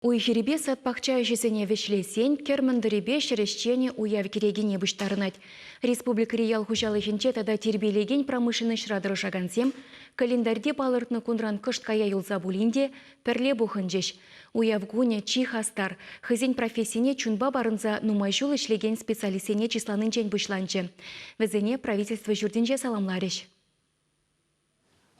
Уй-хирӗпе сад-пахча ӗҫӗсене вӗҫлесен кӗр мӑнтӑрӗпе ҫӗр ӗҫченӗ уяв кӗрекине пуҫтарӑнать. Республикӑри ял хуҫалӑхӗнче тата тирпейлекен промышленноҫра тӑрӑшакансем календарьте палӑртнӑ кунран кӑшт кая юлса пулин те пӗрле пухӑнчӗҫ. Уяв кунӗ чи хастар, хӑйсен профессине чунпа парӑнса нумай ҫул ӗҫлекен специалистсене чысланинчен пуҫланчӗ. Вӗсене Правительство ҫуртӗнче саламларӗҫ.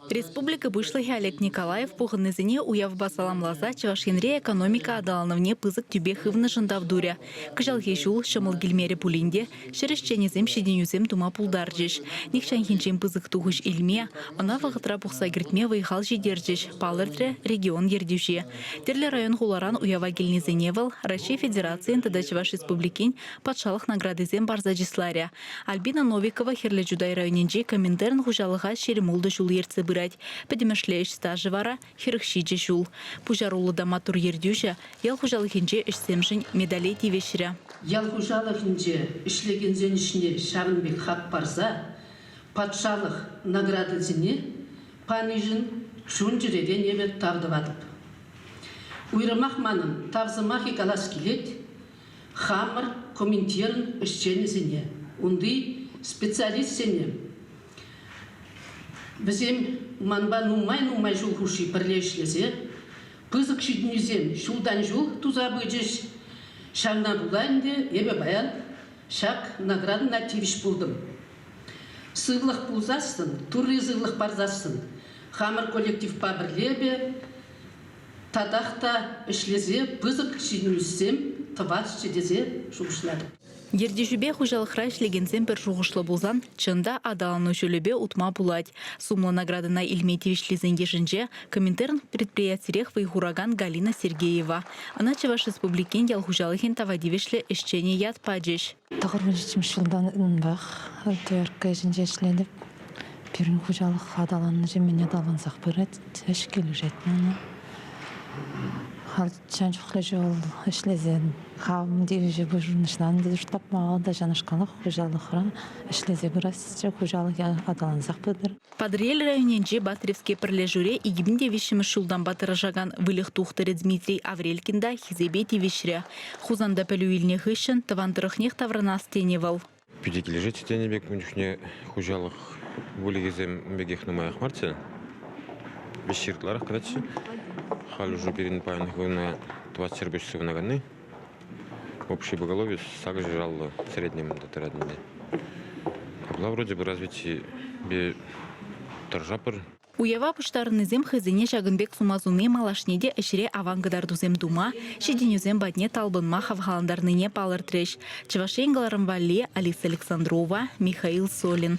Республика Пуҫлӑхӗ Олег Николаев пухӑннисене уявпа саламласа Чӑваш Енре экономика аталанӑвне пысӑк тӳпе хывнӑшӑн тав турӗ. Кӑҫалхи ҫул ҫӑмӑл килмерӗ пулин те ҫӗр ӗҫченӗсем ҫитӗнӳсем тума пултарчӗҫ. Нихҫанхинчен пысӑк тухӑҫ илме, ӑна вӑхӑтра пухса кӗртме вӑй-хал ҫитерчӗҫ, палӑртрӗ регион Ертӳҫи. Тӗрлӗ район-хуларан уява килнисене вӑл Раҫҫей Федерацийӗн тата Чӑваш Республикин Патшалӑх наградисем парса чысларӗ. Альбина Новикова Хӗрлӗ Чутай районӗнчи Коминтерн хуҫалӑха ҫирӗмултӑ ҫул ертсе пырать. Пӗтӗмӗшле ӗҫ стажӗ вара хӗрӗх ҫичӗ ҫул. Пуҫаруллӑ та маттур ертӳҫӗ ял хуҫалӑхӗнче ӗҫсемшӗн медале тивӗҫрӗ. Ял хуҫалӑхӗнче ӗҫлекенсен ӗҫне ҫавӑн пек хак парса патшалӑх наградисене панишӗн чун чӗререн эпӗ тав тӑватӑп. Уйрӑмах манӑн тав сӑмахӗ калас килет хамӑр комитечӗн ӗҫченӗсене, унти специалистсене, вӗсем манпа нумай-нумай ҫул хушши пӗрле ӗҫлесе пысӑк ҫитӗнӳсем ҫултан-ҫул туса пычӗҫ. Ҫавна пула ӗнтӗ эпӗ паян ҫак наградӑна тивӗҫ пултӑм. Сывлӑх пулсассӑн, Турри сывлӑх парсассӑн хамӑр коллективпа пӗрле эпӗ татах та ӗҫлесе пысӑк ҫитӗнӳсем тӑвасчӗ тесе шухӑшлатӑп. Ертӳҫӗпе хуҫалӑхра ӗҫлекенсем пӗр шухӑшлӑ пулсан, чӑн та, аталану ҫулӗпе утма пулать. Сумлӑ наградӑна илме тивӗҫлисен йышӗнче Коминтерн предприятирех вӑй хуракан Галина Сергеева, ӑна Чӑваш Республикин ял хуҫалӑхӗн тава тивӗҫлӗ ӗҫченӗ ят пачӗҫ. Тӑхӑрмӗш ҫултан унтах ТРК ӗҫӗнче ӗҫлетӗп. Пирӗн хуҫалӑх аталаннӑҫӗ мӗн аталансах пырать. Ӗҫ килӗшет мана. Халь чӑн чухлӗ ҫул ӗҫлесен хам тивӗҫе пурнӑҫлан тесе тапма та ҫавнашкалах хуҫалӑхра ӗҫлесе пырасчӗ. Хуҫалӑх аталансах пытӑр. Патӑрьел районӗнчи Батревски пӗрлешӳре икӗ мӗн те виҫҫӗмӗш ҫултанпа тӑрӑшакан выльӑх тухтӑрӗ Дмитрий Аврелькин та хисепе тивӗҫрӗ. Хусанта пӗлӳ илнӗ хыҫҫӑн тӑван тӑрӑхнех таврӑнас тенӗ вӑл. Питӗ килӗшет тенӗ пек ун чухне хуҫалӑх выльӑхӗсем пекех нумаях марччӗ. Виҫҫӗ ытларах кӑтартчӗ. Халь уже пирӗн паянхи куна тӑватҫӗр пуҫ сывӑнаканни. Общее поголовье сакӑрҫӑшаллӑ среднем тӑратнине. Апла вроде бы развитие тӑршапӑр. Уява пуҫтарӑннисем хӑйсене ҫакӑн пек сума суни малашне те ӗҫре аван кӑтартусем тума, ҫитӗнӳсем патне талпӑнма хавхалантарнине палӑртрӗҫ Чӑваш Ен кӑларӑм валли Алиса Александрова, Михаил Солин.